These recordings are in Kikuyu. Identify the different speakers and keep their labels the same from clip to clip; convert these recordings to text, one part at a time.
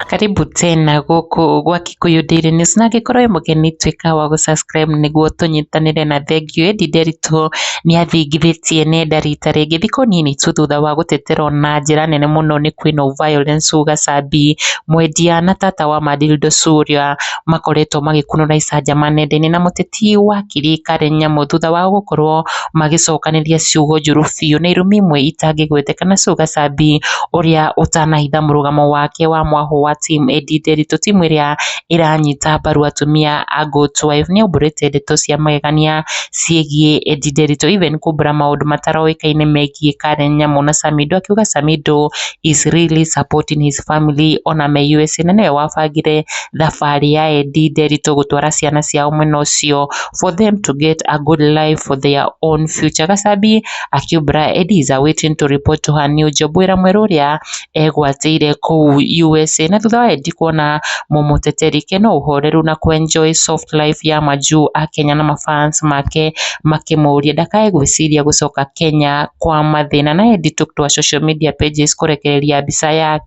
Speaker 1: Karibu tena gũkũ gwa Kikuyu Daily News na angĩkorwo wĩ mũgeni tuĩka wa gũ subscribe nĩguo tũnyitanĩre na thengiũ. Ĩndĩ Nderitu nĩ athingithĩtie nenda rita rĩngĩ thikũ nini tu thutha wa gũteterwo na njĩra nene mũno nĩ Queen of Violence Sue Gacambi, mwendia na tata wa ma Dildo Sue ũrĩa makoretwo magĩkunũra icanjama nenda-inĩ na mũteti ti wa kĩrĩĩkanĩro nyamũ thutha wao gũkorwo magĩcokanĩria ciugo njũru biũ na irumi imwe itangĩgweteka na Sugar Sabi ũrĩa ũtanahitha mũrũgamo wake wa mwahũ wa Team Eddie Nderitu timu ĩrĩa ĩranyita mbaru atumia a Goat Wife nĩaumbũrĩte ndeto cia magegania ciĩgiĩ Eddie Nderitu even kumbũra maũndũ mataroĩkaine megiĩ Karen Nyamu na Samido akiuga Samido is really supporting his family ona me USA na nĩwe wabangire thabarĩ ya Eddie Nderitu gũtwara ciana ciao mwena ũcio for them to get a good life for their own future Gacabi akiumbũra Eddie is awaiting to report to her new job wĩra mwerũ ũrĩa egwatĩire kũu USA na thutha wa Eddie kuona mũmũteteri Ken no ũhoreru na kũ enjoy soft life ya majuu a Kenya na ma fans make makĩmũria ndakae gwĩciria gũcoka Kenya kwa mathĩna na Eddie took to her social media pages kũrekereria mbica yake.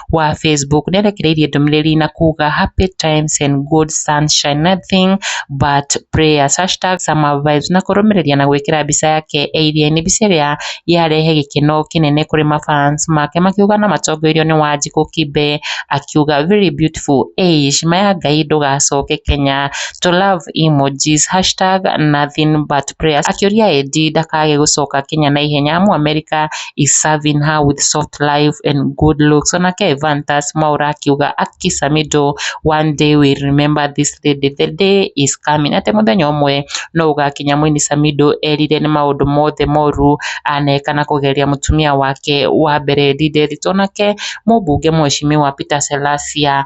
Speaker 1: wa Facebook nĩ arekereirie ndũmĩrĩri na kuuga happy times and good sunshine nothing but prayers hashtag summer vibes na kũrũmĩrĩria na gwĩkĩra mbica yake e iria-inĩ mbica ĩrĩa yarehe gĩkeno kĩnene kũrĩ ma fans make makiuga na matongoirio nĩ Wanjikũ Kibe akiuga very beautiful eish maya Ngai ndũgacoke Kenya to love emojis hashtag nothing but prayers akĩũria Eddie ndakage gũcoka Kenya na ihenya amu America is serving her with soft life and good looks ona ke Evantas Mwaura akiuga Akisa Mido one day we remember this lady the day is coming atĩ mũthenya ũmwe no ũgakinya mũini Samido erire nĩ maũndũ mothe moru aneka na kũgeria mũtumia wake wa mbere Lideth onake mũmbunge mheshimiwa Peter Selasia